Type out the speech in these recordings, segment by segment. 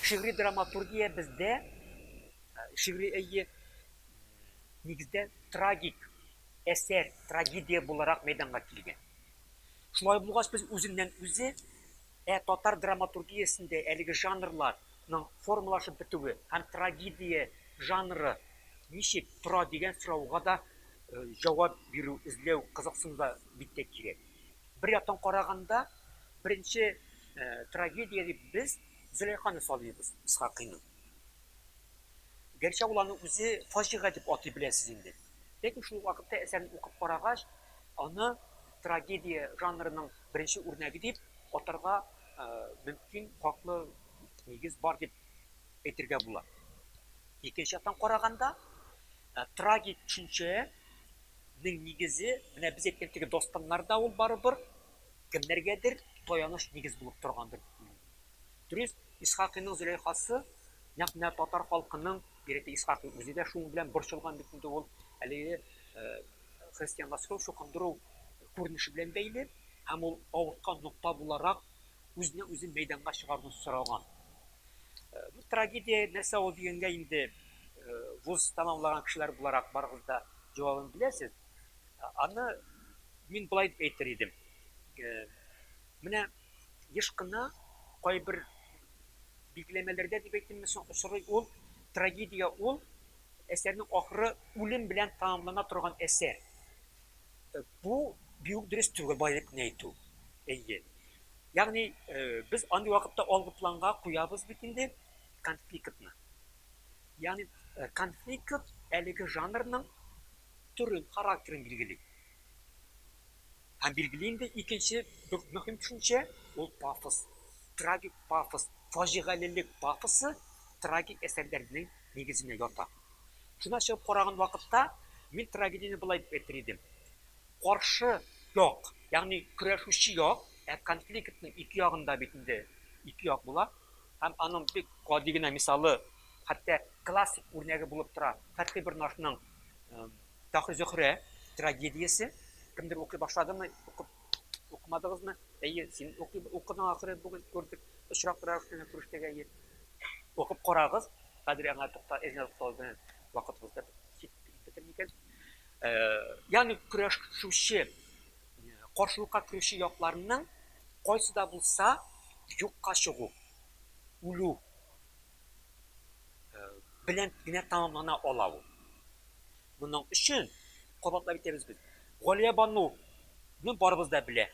Шигъри драматургия бездә, шигъри әйе, нигездә трагик әсәр, трагедия буларак мәйданга килгән. Шулай булгач, без үзеннән үзе, ә татар драматургиясендә әлеге жанрларның формалашып бетүе һәм трагедия жанры ничек тора дигән сорауга да җавап бирү, эзләү, кызыксыну да бик тә кирәк. Бер яктан караганда, беренче трагедия дип без Зөләйханы саныйбыз, Исхакыйны. Гәрчә ул аны үзе фаҗига дип атый беләсез инде. Ләкин шул вакытта әсәрне укып карагач, аны трагедия жанрының беренче үрнәге дип атарга мөмкин, хаклы нигез бар дип әйтергә була. Икенче яктан караганда, трагик төшенчәнең нигезе, менә без әйткән теге дастаннар да ул барыбер кемнәргәдер таяныч нигез булып торгандыр дип уйлыйм. Дөрес, Исхакыйның Зөләйхасы нәкъ менә татар халкының, бигрәк Исхакый үзе дә шуның белән борчылган бит инде ул, әлеге христианлаштыру, чукындыру күренеше белән бәйле һәм ул авырткан нокта буларак Үзне үзе мәйданга чыгаруны сораган. Бу трагедия нәрсә ул дигәнгә инде вуз тәмамлаган кешеләр буларак барыгыз да җавабын беләсез. Аны мин болай дип әйтер идем. Менә еш кына кайбер билгеләмәләрдә дип әйтимме соң очрый ул трагедия ул әсәрнең ахыры үлем белән тәмамлана торган әсәр. Бу бик үк дөрес түгел, байлыкны әйтү. Әйе. Ягъни, без андый вакытта алгы планга куябыз бит инде конфликтны. Ягъни, конфликт әлеге жанрның төрен, характерын билгели. Һәм билгели инде икенче бик мөһим төшенчә, ул пафос. Трагик пафос, фаҗигалелек пафосы трагик әсәрләрнең нигезенә ята. Шуны ачып караган вакытта, мин трагедияне болай дип әйтер идем. Каршы як, ягъни көрәшүче як, ә конфликтның ике ягында бит инде ике як була. Һәм аның бик гади генә мисалы, хәтта классик үрнәге булып тора Фәтхи Бернашның Фәхри-Зөхрә трагедиясе. Кемдер укый башладымы, укып Укымадыгызмы? Әйе, син укыдың ахыры, бүген күрдек. Очрак торабыз сезнең күрештәгә, әйе. Укып карагыз. Хәзер аңа тукта, эзне туктау белән вакытыбыз да бетер микән? Ягъни көрәшүче, каршылыкка керүче якларның кайсы да булса юкка чыгу, үлү белән генә тәмамлана ала ул. Моның өчен кабатлап әйтәбез без. Галия бану ну барыбыз да белә.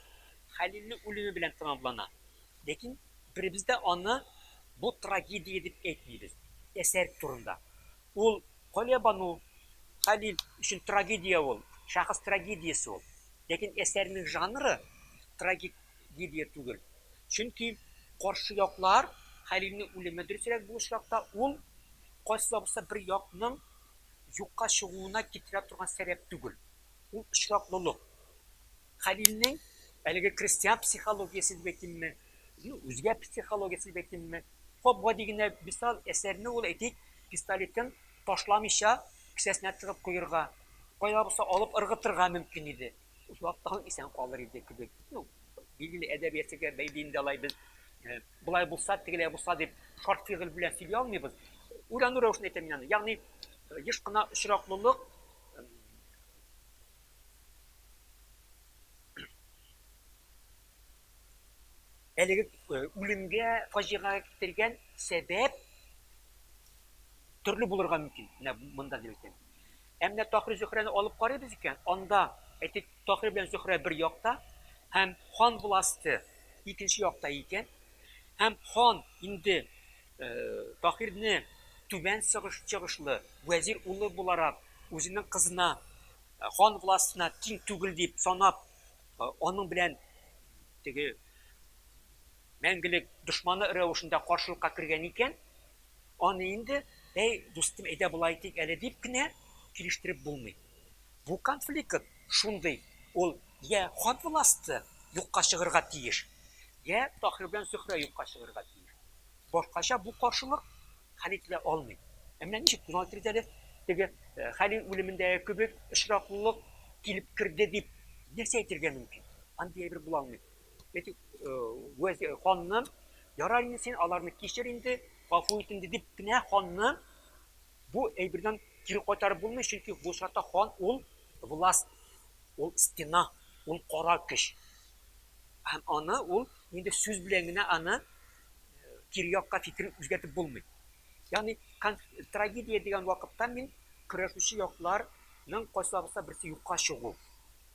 Хәлилнең үлеме белән тәмамлана. Ләкин беребез дә аны бу трагедия дип әйтмибез. Әсәр турында. Ул Галия бану, Хәлил өчен трагедия ул, шәхес трагедиясе ул. Ләкин әсәрнең жанры трагедия түгел. Чөнки каршы яклар Хәлилнең үлеме, дөресрәк бу очракта, ул кайсы да булса бер якның юкка чыгуына китерә торган сәбәп түгел. Ул очраклылык. Хәлилнең әлеге крестьян психологиясе дип әйтимме, ну, үзгә психологиясе дип әйтимме, гап-гади генә мисал, әсәрне ул, әйтик, пистолетын ташламыйча кесәсенә тыгып куерга, кая да булса алып ыргытырга мөмкин иде. Озактан исән калыр иде кебек. Ну, билгеле әдәбиятчыга бәйле инде алай без э, болай булса, тегеләй булса дип шарт фигыль белән сөйли алмыйбыз. Уйлану рәвешендә әйтәм аны. Ягъни э, еш кына очраклылык э, әлеге үлемгә, фаҗигагә китергән сәбәп төрле булырга мөмкин. Менә монда дип әйтәм. Ә менә Таһир Зөһрәне алып карыйбыз икән, анда, әйтик, Таһир белән Зөһрә бер якта һәм хан власте икенче якта икән, һәм хан инде Таһирне түбән чыгышлы вәзир улы буларак, үзенең кызына, хан властына тиң түгел дип санап, аның белән теге мәңгелек дошманы рәвешендә каршылыкка кергән икән, аны инде, әй, дустым, әйдә болай итик әле, дип кенә килештереп булмый. Бу конфликт шундый, ул йә хан власте юкка чыгырга тиеш, йә Таһир белән Зөһрә юкка чыгырга тиеш. Башкача бу каршылык хәл ителә алмый. Ә менә ничек тын итегез әле, теге Хәлил үлемендәге кебек очраклылык килеп керде дип нәрсә әйтергә мөмкин? Андый әйбер була алмый. Әйтик, вәзир ханны ярар инде син аларны кичер инде, гафу ит инде дип кенә ханны бу әйбердән кире кайтарып булмый, чөнки бу очракта хан ул власть, ул стена, ул кара көч. Һәм аны ул инде сүз белән генә аны кире якка фикерен үзгәртеп булмый. Ягъни трагедия дигән вакытта мин көрәшүче якларның кайсыларыбызда берсе юкка чыгу.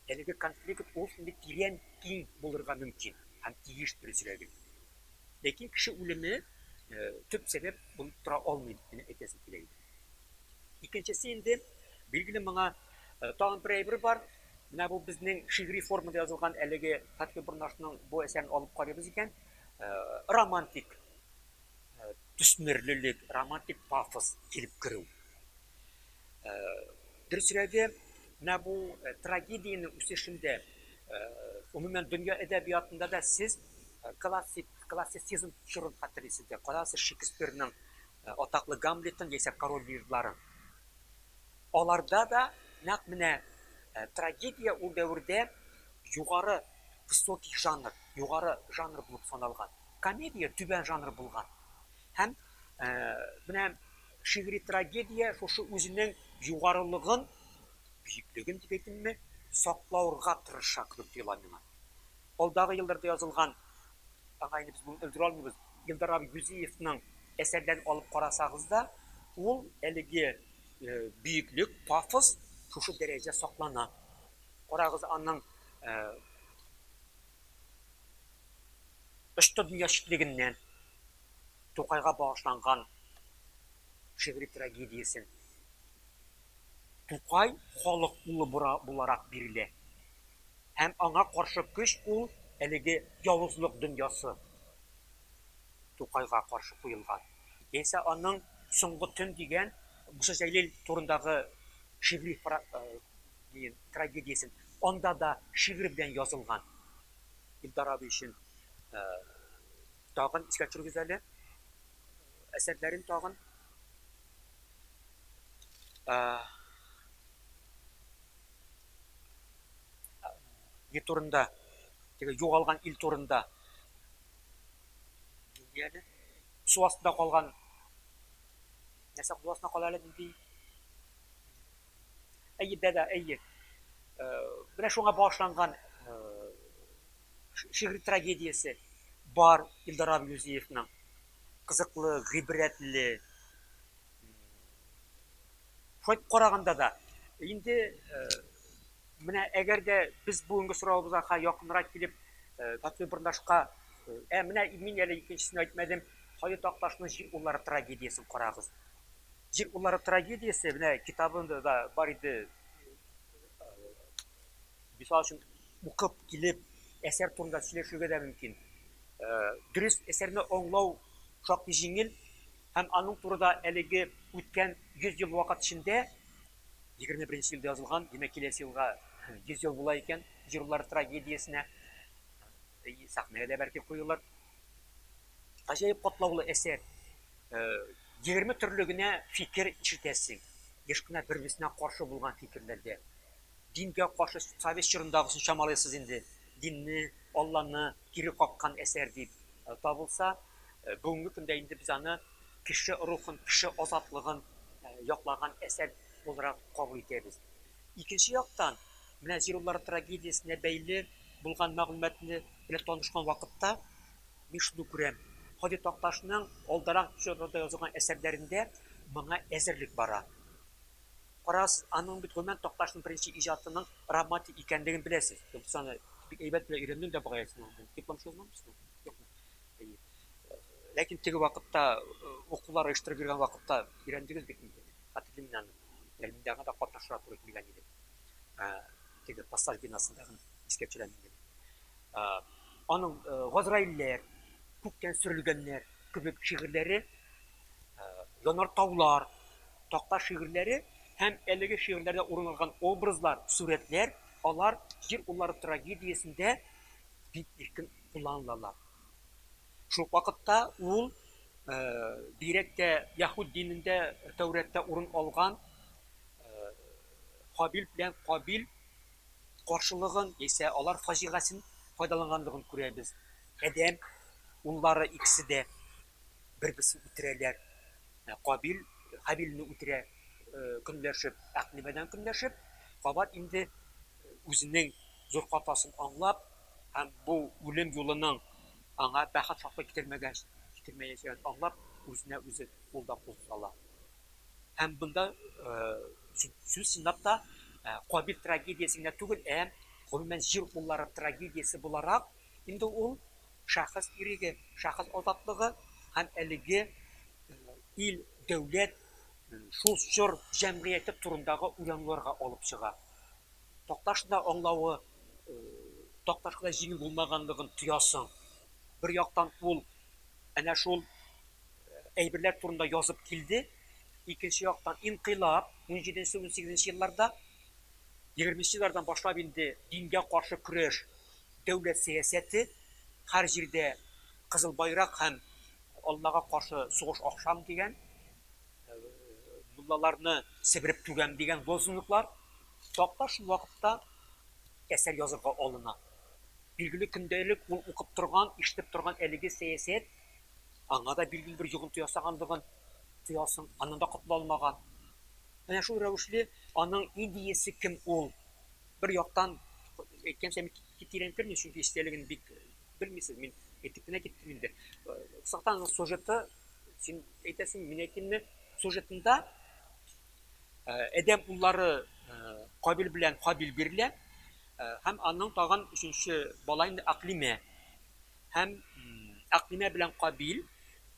Әлеге конфликт ул шундый тирән, киң булырга мөмкин һәм тиеш, дөресрәге. Ләкин кеше үлеме төп сәбәп булып тора алмый, дип кенә әйтәсем килә иде. Икенчесе инде, билгеле, моңа тагын бер әйбер бар. Менә бу безнең шигъри формада язылган әлеге Хәтке Борнашның бу әсәрен алып карыйбыз икән, романтик төсмерлелек, романтик пафос килеп керү. Дөресрәге, менә бу трагедиянең үсешендә, гомумән, дөнья әдәбиятында да сез классик, классицизм чорын хәтерлисездер. Карагыз, Шекспирның атаклы Гамлетын яисә Король Лирларын. Аларда да нәкъ менә трагедия ул дәвердә югары высокий жанр, югары жанр булып саналган. Комедия түбән жанр булган. Һәм менә Шигъри трагедия шушы үзенең югарылыгын, биеклеген дип әйтимме, саклаурга тырыша кебек тоела миңа. Алдагы елларда язылган, аңа инде без бүген өлгерә алмыйбыз, Илдар абый Юзеевның әсәрләрен алып карасагыз да, ул әлеге биеклек, пафос шушы дәрәҗә саклана. Карагыз, аның Очты дөнья читлегеннән. Тукайга багышланган шигъри трагедиясен Тукай халык улы буларак бирелә һәм аңа каршы көч ул әлеге явызлык дөньясы Тукайга каршы куелган. Яисә аның Соңгы төн дигән Муса Җәлил турындагы шигъри трагедиясен анда да шигырь белән язылган Илдар абый өчен Тагын искә төшерегез әле әсәрләрен тагын. Ел турында, теге югалган ил турында. Нинди әле? Су астында калган нәрсә кул астында кала әле нинди? Әйе, дәдә, әйе. Э, менә шуңа багышланган э, шигъри трагедиясе бар Илдар Абилүзиевның. Кызыклы, гыйбрәтле. Шулай караганда да, инде э, менә әгәр дә без бүгенге соравыбызга якынрак килеп, Татве Бырнашка, ә менә мин әле икенчесен әйтмәдем, Хаю Такташның җир уллары трагедиясен карагыз. Җир куллары трагедиясе менә китабында да бар иде. Мисал өчен, укып килеп, әсәр турында сөйләшергә дә мөмкин. Дөрес, әсәрне аңлау шактый җиңел һәм аның турыда әлеге үткән 100 ел вакыт эчендә 21 елда язылган, димәк, киләсе елга 100 ел була икән, җир куллары трагедиясенә сәхнәгә дә бәлки куелыр. Гаҗәеп катлаулы әсәр. Э, егерме төрле генә фикер ишетәсең. Еш кына бер-берсенә каршы булган фикерләрдә. Дингә каршы совет чорындагысын чамалыйсыз инде. Динне, Алланы кире каккан әсәр дип э, табылса, э, бүгенге көндә инде без аны кеше рухын, кеше азатлыгын э, яклаган әсәр буларак кабул итәбез. Икенче яктан, менә Зируллар трагедиясенә бәйле булган мәгълүматны белән танышкан вакытта, мин шуны күрәм, Һади Такташның алдарак чорда язылган әсәрләрендә моңа әзерлек бара. Карагыз, аның бит гомумән Такташның беренче иҗатының романтик икәнлеген беләсез. Без аны бик әйбәт белән өйрәндем дә бугай, сез аны диплом язмагансызмы? Юкмы? Әйе. Ләкин теге вакытта укулар оештырып йөргән вакытта өйрәндегез бит инде, хәтерлим мин аны. Тәрминдагы да кат ташырга туры килгән иде. Теге пассаж бинасындагы искәрчеләр инде. Аның Газраилләр, күктән сөрелгәннәр кебек шигырьләре, янар таулар, такта шигырьләре һәм әлеге шигырьләрдә урын алган образлар, сурәтләр, алар җир уллары трагедиясендә бик иркен кулланылалар. Шул ук вакытта ул, бигрәк тә яһүд динендә, Тәүрәттә урын алган Хабил белән Кабил каршылыгын яисә алар фаҗигасен файдаланганлыгын күрәбез. Адәм уллары икесе дә бер-берсен үтерәләр. Кабил Хабилне үтерә, көнләшеп, әкълимадан көнләшеп, кабат инде үзенең зур хатасын аңлап һәм бу үлем юлының аңа бәхет хакы китермәгәч, китермәячәген аңлап, үзенә үзе кул да кул сала. Һәм бында сүз чынлап та Кабил трагедиясе генә түгел, ә гомумән җир уллары трагедиясе буларак, инде ул шәхес иреге, шәхес азатлыгы һәм әлеге ил, дәүләт, шул чор җәмгыяте турындагы уйлануларга алып чыга. Такташ да аңлавы Такташ кына җиңел булмаганлыгын тоясың. Бер яктан ул әнә шул әйберләр турында язып килде, икенче яктан инкыйлаб 17-18 елларда 20 еллардан башлап инде дингә каршы көрәш, дәүләт сәясәте, һәр җирдә кызыл байрак һәм Аллага каршы сугыш ахшам дигән, муллаларны себереп түгәм дигән лозунглар Китапта шул вакытта әсәр язырга алына. Билгеле көндәлек ул укып торган, ишетеп торган әлеге сәясәт аңа да билгеле бер йогынты ясаганлыгын тоясың, аннан да котыла алмаган. Менә шул рәвешле аның идеясе кем ул? Бер яктан әйткәнчә мин тирәнтермин, чөнки истәлеген бик белмисез, мин әйтеп кенә киттем инде. Сахтаның сюжеты, син әйтәсең, мин әйтимме, сюжетында Адәм уллары Кабил белән Хабил бирелә һәм аның тагын өченче бала инде Аклимә. Һәм Аклимә белән Кабил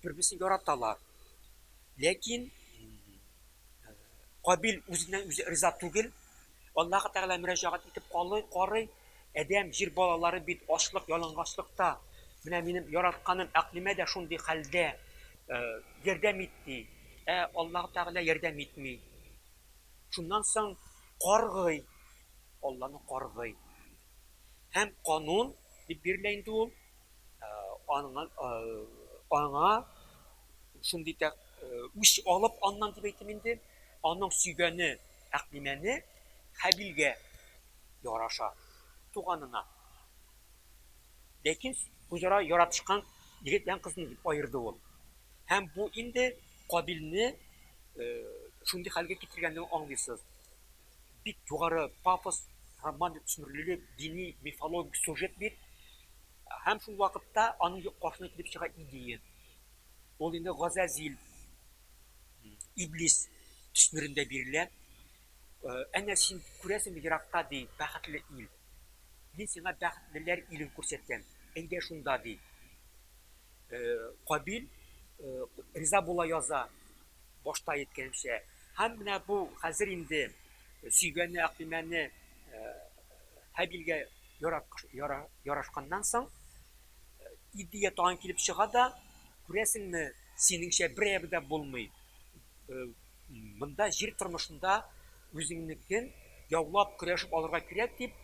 бер-берсен яраталар. Ләкин Кабил үзеннән үзе риза түгел, Аллаһы Тәгалә мөрәҗәгать итеп калый, карый, Адәм, Җир балалары бит ачлык, ялангачлыкта. Менә минем яратканым Әкълимә дә шундый хәлдә, ярдәм ит, ди. Ә Аллаһы Тәгалә ярдәм итми. Шуннан соң каргый, Алланы каргый. Һәм канун дип бирелә инде ул, аңа, аңа шундый үч алып аннан дип әйтим инде, аның сөйгәне Тәкъдимәне Хәбилгә яраша, туганына. Ләкин үзара яратышкан егет белән кызны дип аерды ул. Һәм бу инде Кабилне шундый хәлгә китергәнлеген аңлыйсыз. Бик югары пафос, романтик төсмерлелек, дини, мифологик сюжет бит. Һәм шул вакытта аның каршына килеп чыга идея. Ул инде Газәзил. Иблис төсмерендә бирелә. Әнә син күрәсеңме еракта, ди, бәхетле ил. Мин сиңа бәхетлеләр илен күрсәтәм. Әйдә шунда, ди. Кабил риза була яза, башта әйткәнемчә. Һәм менә бу хәзер инде сөйгәне Әкыймәне Һабилгә ярашканнан соң, Иртүгә тагын килеп чыга да, күрәсеңме, синеңчә берәебе дә булмый. Монда җир тормышында үзеңнекен яулап, көрәшеп алырга кирәк дип,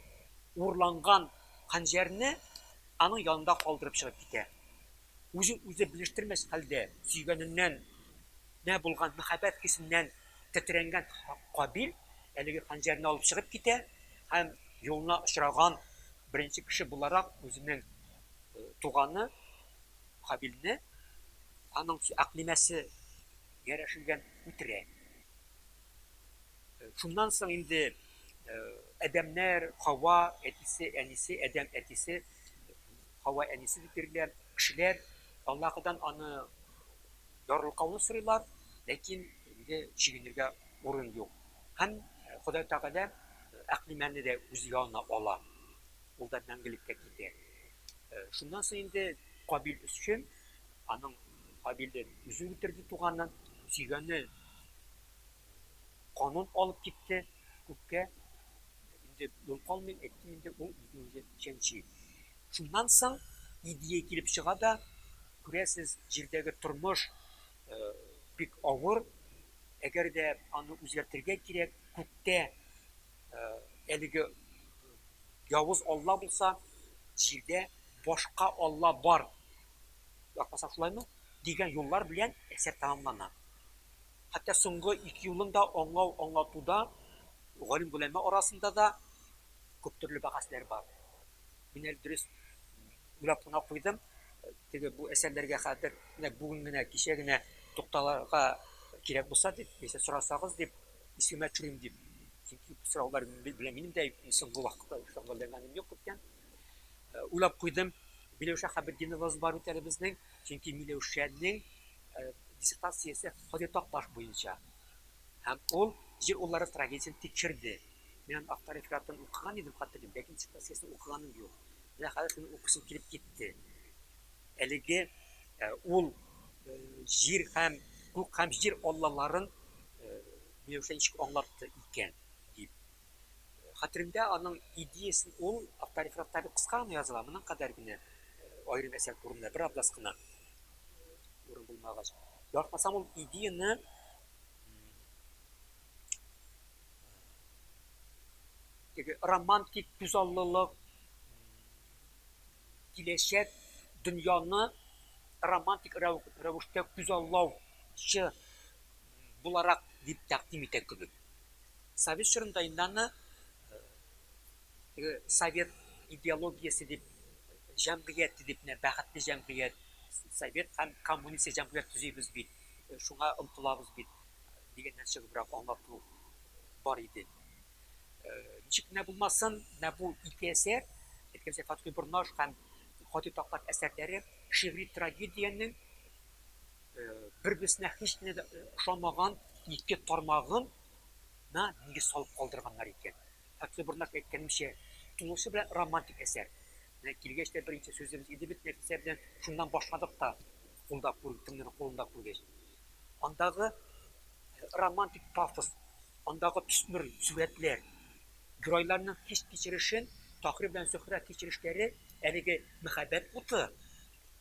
урланган ханҗәрне аның янында калдырып чыгып китә. Үзен үзе белештермәс хәлдә, сөйгәненнән нә булган мәхәббәт хисеннән Тетрәнгән Кабил әлеге хәнҗәрне алып чыгып китә һәм юлына очраган беренче кеше буларак үзенең туганы Хабилне, аның әкълимәсе гәрәшелгән, үтерә. Шуннан соң инде адәмнәр, Хава, әтисе, әнисе, Адәм әтисе, Хава әнисе дип йөриләр, кешеләр Аллаһыдан аны Ярлыкауны сорыйлар, ләкин инде чигенергә урын юк. Һәм Ходай Тәгалә Әкълимәне дә үз янына ала. Ул да мәңгелеккә китә. Шуннан соң инде Кабил өчен, аның Кабиле үзе үтерде туганын, сөйгәне канын алып китте күккә, инде юл калмый, әйттем инде, ул үзен үзе чәнчи. Шуннан соң идея килеп чыга да, күрәсез, җирдәге тормыш бик авыр, әгәр дә аны үзгәртергә кирәк, күктә әлеге явыз алла булса, җирдә башка алла бар, яратмаса шулаймы, дигән юллар белән әсәр тәмамлана. Хәтта соңгы ике юлын да аңлау-аңлатуда, галим-голәмә арасында да, Күптөрле бәхәсләр бар. Мин әле дөрес уйлап кына куйдым. Теге бу әсәрләргә хәзер нәкъ бүген генә, кичә генә тукталырга кирәк булса дип, яисә сорасагыз дип, искемә төшерим дип. Чөнки бу сораулар белән минем дә соңгы вакытта шөгыльләнгәнем юк икән. Уйлап куйдым. Миләүшә Хәбетдинова бар бит әле безнең. Чөнки Миләүшәнең диссертациясе Ходитак баш буенча. Һәм ул җир уллары трагедиясен тикшерде. Мин аны Актар рефератын укыган идем, хәтерлим, ләкин диссертациясен укыганым юк. Менә хәзер шуны укысым килеп китте. Әлеге э, ул э, җир һәм күк һәм җир аллаларын э, Миләүшә ничек аңлатты икән дип. Хәтеремдә аның идеясын ул Актар рефератта бик кыска гына языла, моның кадәр генә аерым әсәр турында бер абзац кына урын булмагач. Яратмасам ул идеяны теге романтик күзаллылык, киләчәк дөньяны романтик рәвештә күзаллаучы буларак дип тәкъдим итә кебек. Совет чорында инде аны теге совет идеологиясе дип җәмгыять дип менә бәхетле җәмгыять, совет һәм коммунист җәмгыять төзибез бит, шуңа омтылабыз бит. дигәннән чыгыбрак аңлату бар иде. Ничек кенә булмасын, менә бу ике әсәр, әйткәнчә Фатхи Борнаш һәм Хатыйп Таклак әсәрләре шигъри трагедиянең бер-берсенә һич кенә дә ошамаган ике тармагын на нигез салып калдырганнар икән. Фатхи Борнаш әйткәнемчә, тулысы белән романтик әсәр. Менә килгәч тә беренче сүзебез иде бит Нәфисә белән шуннан башладык та. кулда күр, кемнедер кулында күргәч, андагы романтик пафос, андагы төсмер сурәтләр, геройларның хис-кичерешен Таһир белән Зөһрә кичерешләре, әлеге мәхәббәт уты,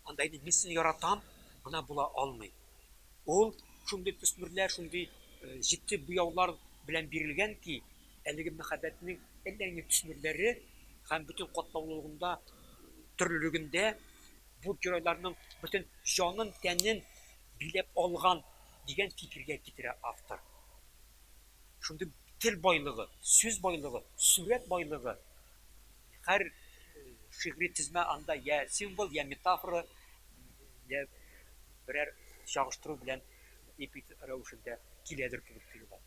анда инде мин сине яратам, гына була алмый. Ул шундый төсмерләр, шундый җитди буяулар белән бирелгән ки, әлеге мәхәббәтнең әллә нинди төсмерләре һәм бөтен катлаулылыгында, төрлелегендә Бу геройларның бөтен җанын-тәнен биләп алган, дигән фикергә китерә автор. Шундый тел байлыгы, сүз байлыгы, сурәт байлыгы, һәр шигъри тезмә анда я символ, я метафора, я берәр чагыштыру белән эпик рәвешендә киләдер кебек тоела.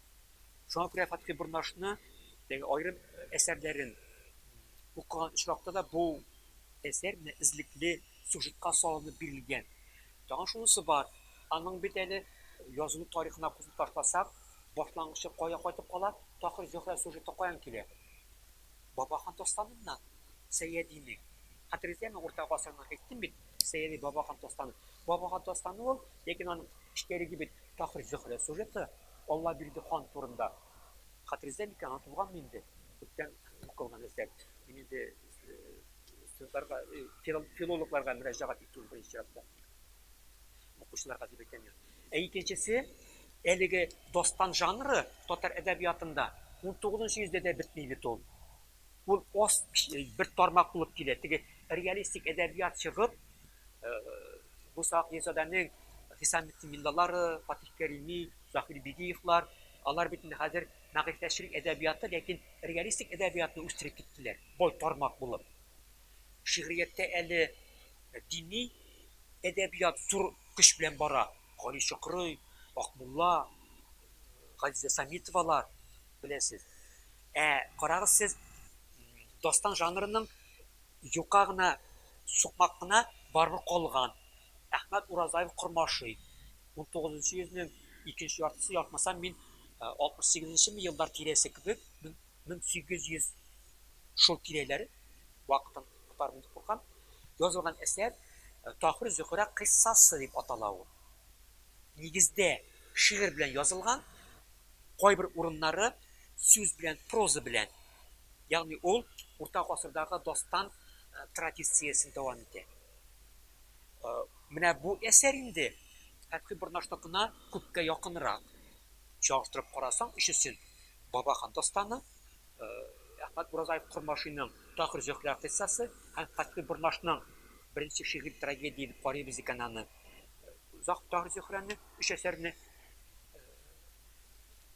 Шуңа күрә Фатхи Борнашны, теге аерым әсәрләрен укыган очракта да бу Әсәр менә эзлекле сюжетка салынып бирелгән. Тагын шунысы бар, аның бит әле язылу тарихына күзне ташласак, башлангычы кая кайтып кала, Таһир Зөһрә сюжеты каян килә? Бабахан дастаныннан, Сәйядинең. Хәтерегездәме, урта гасырның, әйттем бит, Сәйяди Бабахан дастаны. Бабахан дастаны ул, ләкин аның эчтәлеге бит Таһир Зөһрә сюжеты, Аллабирде хан турында. Хәтерегездә микән, онытылганмы инде, күптән укылган әсәр. Мин инде Студентларга, э, филол- филологларга мөрәҗәгать итүен беренче чиратта укучыларга дип әйтәм мин. Ә икенчесе, әлеге дастан жанры татар әдәбиятында 19 йөздә дә бетми бит ул. Ул аз кич- бер тармак булып килә. Теге реалистик әдәбият чыгып, э, Муса Акъяйзадәнең Хисаметдин Миллалары, Фатих Кәрими, Заһир Бигиевлар, алар бит инде хәзер мәгърифәтчелек әдәбияты, ләкин реалистик әдәбиятны үстереп киттеләр, бай тармак булып. Шигърияттә әле дини әдәбият зур көч белән бара, Гали Чокрый, Акмулла, Газизә Самитовалар, беләсез. Ә карагыз сез, дастан жанрының юка гына, сукмак кына барыбер калган. Әхмәт Уразаев кормашый. Унтугызынчы йөзнең икенче яртысы, ятмасам, мин алтмыш сигезенчеме еллар тирәсе кебек, мең сигез йөз шул тирәләр, вакытын отармын дип куркам, язылган әсәр Таһир-Зөһрә кыйссасы дип атала ул. Нигездә шигырь белән язылган, кайбер урыннары сүз белән, проза белән. Ягъни ул урта гасырдагы дастан традициясен дәвам итә. Менә бу әсәр инде Фәтхи Борнашныкына күпкә якынрак. Чагыштырып карасаң, өчесен, Бабахан дастаны, Әхмәт Уразаев Кормашиның Тахир Зөһрә кыйссасы һәм Фәтхи Борнашның беренче шигырь трагедия дип карыйбыз икән аны, Тахир Зөһрәне, өч әсәрне.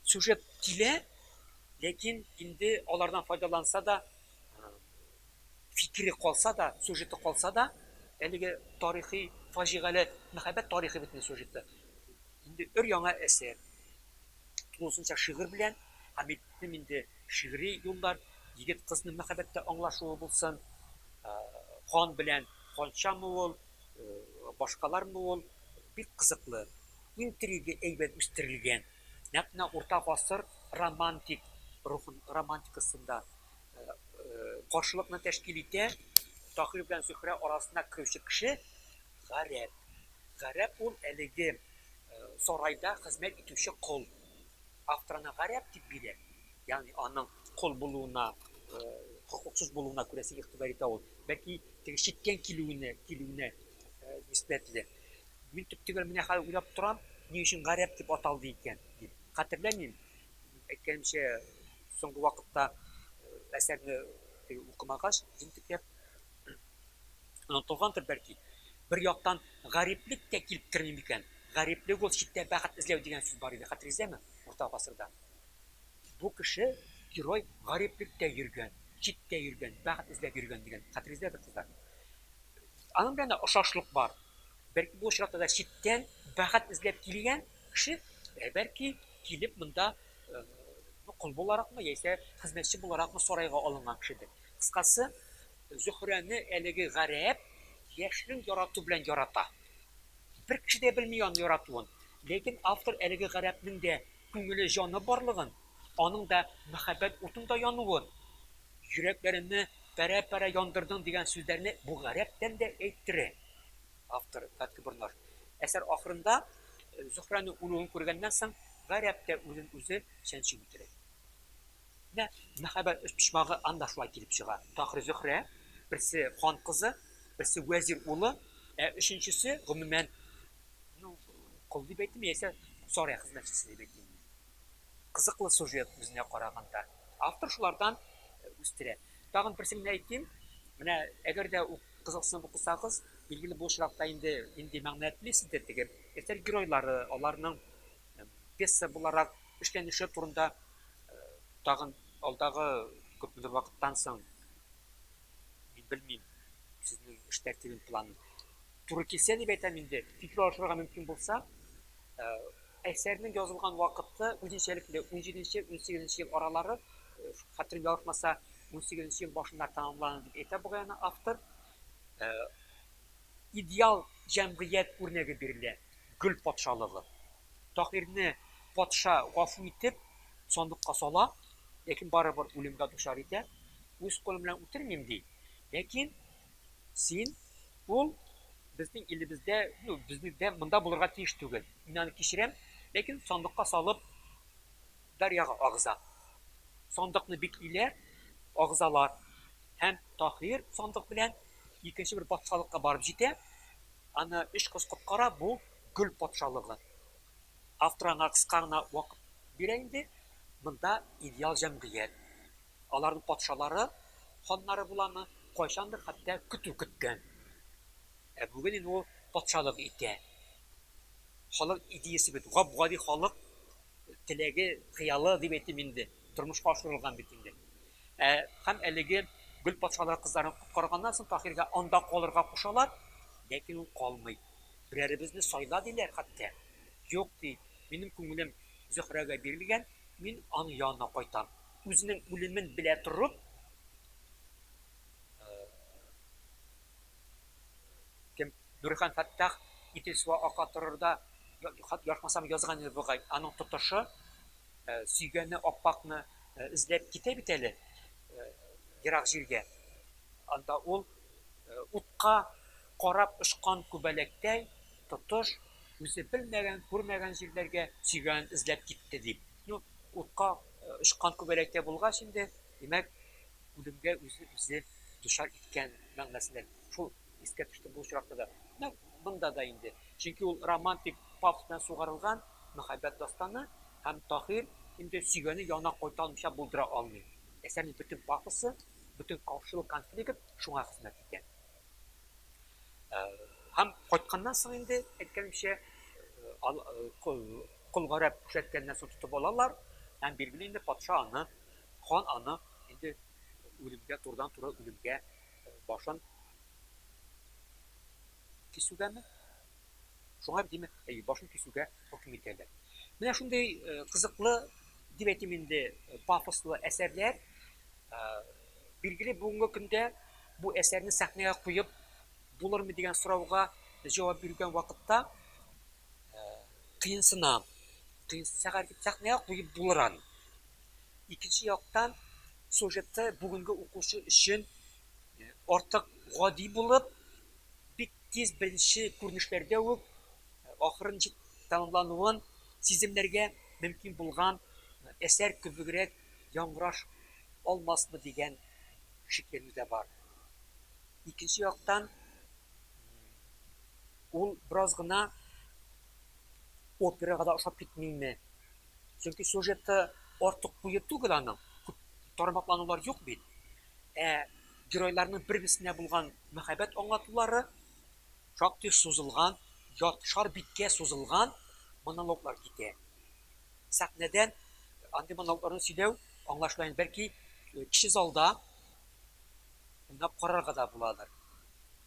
Сюжет килә, ләкин инде алардан файдаланса да, фикере калса да, сюжеты калса да, әлеге тарихи фаҗигале мәхәббәт тарихы бит инде сюжеты. Инде өр-яңа әсәр, тулысынча шигырь белән, Хәмитнең инде шигъри юллар, егет-кызның мәхәббәттә аңлашуы булсын, хан белән ханчамы ул, башкалармы ул, бик кызыклы, интрига әйбәт үстерелгән, нәкъ менә урта гасыр романтик рухын, романтикасында каршылыкны тәшкил итә. Таһир белән Зөһрә арасына керүче кеше гарәп. Гарәп ул әлеге сарайда хезмәт итүче кол. Автор аны гарәп дип бирә. Ягъни аның кол булуына, хокуксыз булуына күрәсе игътибар итә ул. Бәлки теге читтән килүенә, килүенә нисбәтле. Мин төптөгәл менә хәзер уйлап торам, ни өчен гарәп дип аталды икән дип. Хәтерләмим, әйткәнемчә, Соңгы вакытта әсәрне укымагач, җентекләп онытылгандыр бәлки. Бер яктан, гариплек тә килеп керми микән? Гариплек ул читтә бәхет эзләү дигән сүз бар иде, хәтерегездәме? Урта гасырда. Бу кеше, герой, гариплеккә йөргән, читтә йөргән, бәхет эзләп йөргән дигән. Хәтерегездәдер, кызлар. Аның белән дә ошашлык бар. Бәлки бу очракта да читтән бәхет эзләп килгән, Кеше, бәлки, килеп монда кол буларакмы яисә хезмәтче буларакмы сарайга алынган кешедер. Кыскасы, Зөһрәне әлеге гарәп яшьнең ярату белән ярата. Бер кеше дә белми аны яратуын. Ләкин автор әлеге гарәпнең дә күңеле, җаны барлыгын, аның да мәхәббәт утында януын, Йөрәкләремне пәрә-пәрә яндырдың дигән сүзләрне бу гарәптән дә әйттерә. Автор, Татлы бурлар. Әсәр ахырында Зөһрәнең үлүен күргәннән соң, Гарәп тә үзен-үзе чәнчеп үтерә. Менә мәхәббәт өчпочмагы анда шулай килеп чыга. Тахир Зөһрә, берсе хан кызы, берсе вәзир улы, ә өченчесе, гомумән, ну, кол дип әйтимме яисә сарай хезмәтчесе дип әйтимме. Кызыклы сюжет үзенә караганда. Автор шулардан үстерә. Тагын берсен генә әйтим, менә әгәр дә ук Кызыксынып укысагыз, билгеле бу очракта инде нинди мәгънә телисе дә тегеп, әсәр геройлары, аларның пьеса буларак эшләнеше турында тагын алдагы күпмедер вакыттан соң, мин белмим, сезнең эш тәртибен, планын туры килсә дип әйтәм инде, фикер алышырга мөмкин булса, Әсәрнең язылган вакыты үзенчәлекле, унҗиденче, унсигезенче ел аралары, хәтерем ялгышмаса, унсигезенче ел башында тәмамланды дип әйтә бугай аны автор. Идеал җәмгыять үрнәге бирелә, гөл патшалыгы. Таһирне патша гафу итеп, сандыкка сала, ләкин барыбер үлемгә дучар итә. Үз кулым белән үтермим, ди. Ләкин Син, ул безнең илебездә, ну, безнең монда булырга тиеш түгел. Мин аны кичерәм, ләкин сандыкка салып Дарьяга агыза. Сандыкны бик илә, агызалар. Һәм Таһир сандык белән икенче бер патшалыкка барып җитә. Аны өч кыз коткара, бу гөл патшалыгы. Автор аңа кыска гына вакыт бирә инде, монда идеал җәмгыять. Аларның патшалары, ханнары буламы? Кайчандыр хәтта көтү көткән. Ә бүген инде ул патшалык итә. Халык идеясе бит, гап-гади халык теләге, хыялы дип әйтим инде, тормышка ашырылган бит инде. Ә һәм әлеге гөл патшалары кызларын коткарганнан соң Таһиргә анда калырга кушалар, ләкин ул калмый. Берәребезне сайла диләр хәтта. Юк, ди, минем күңелем Зөһрәгә бирелгән, мин аның янына кайтам. Үзенең үлемен белә торып, кем Нурихан Фәттах Итил суы ака торыр да, хат язмасам язган иде бугай. Аның тотышы сөйгәне Аппакны эзләп китә бит әле ерак җиргә. Анда ул утка карап очкан күбәләктәй тотыш үзе белмәгән, күрмәгән җирләргә сөйгәнен эзләп китте дип. Ну, утка Очкан күбәләккә булгач инде, димәк, үлемгә үзе үзе дучар иткән мәгънәсендә. Шул искә төште бу очракта да. Менә монда да инде. Чөнки ул романтик пафос белән сугарылган мәхәббәт дастаны һәм Таһир инде сөйгәне янына кайта алмыйча булдыра алмый. Әсәрнең бөтен пафосы, бөтен каршылык-конфликт шуңа хезмәт итә. Һәм кайтканнан соң инде, әйткәнемчә, кол гарәп күрсәткәннән соң тотып алалар, һәм билгеле инде патша аны, хан аны инде үлемгә, турыдан-туры үлемгә башын кисүгәме? Шуңа, димәк, әйе, башын кисүгә хөкем итәләр. Менә шундый кызыклы, дип әйтим инде, пафослы әсәрләр. Билгеле, бүгенге көндә бу әсәрне сәхнәгә куеп булырмы дигән сорауга җавап бирүгән вакытта кыенсына. Кыенсына дип сәхнәгә куеп булыр аны. Икенче яктан, сюжеты бүгенге укучы өчен артык гади булып, бик тиз беренче күренешләрдә үк ахырын җитеп тәмамлануын сиземләргә мөмкин булган әсәр кебегрәк яңгыраш алмасмы дигән шикләнү дә бар. Икенче яктан, ул бераз гына операга да ошап китмиме? Чөнки сюжеты артык куе түгел аның, күп тармакланулар юк бит. Ә геройларның бер-берсенә булган мәхәббәт аңлатулары шактый сузылган, яртышар биткә сузылган монологлар китә. сәхнәдә андый монологларны сөйләү аңлашыла инде, бәлки кече залда уйнап карарга да буладыр.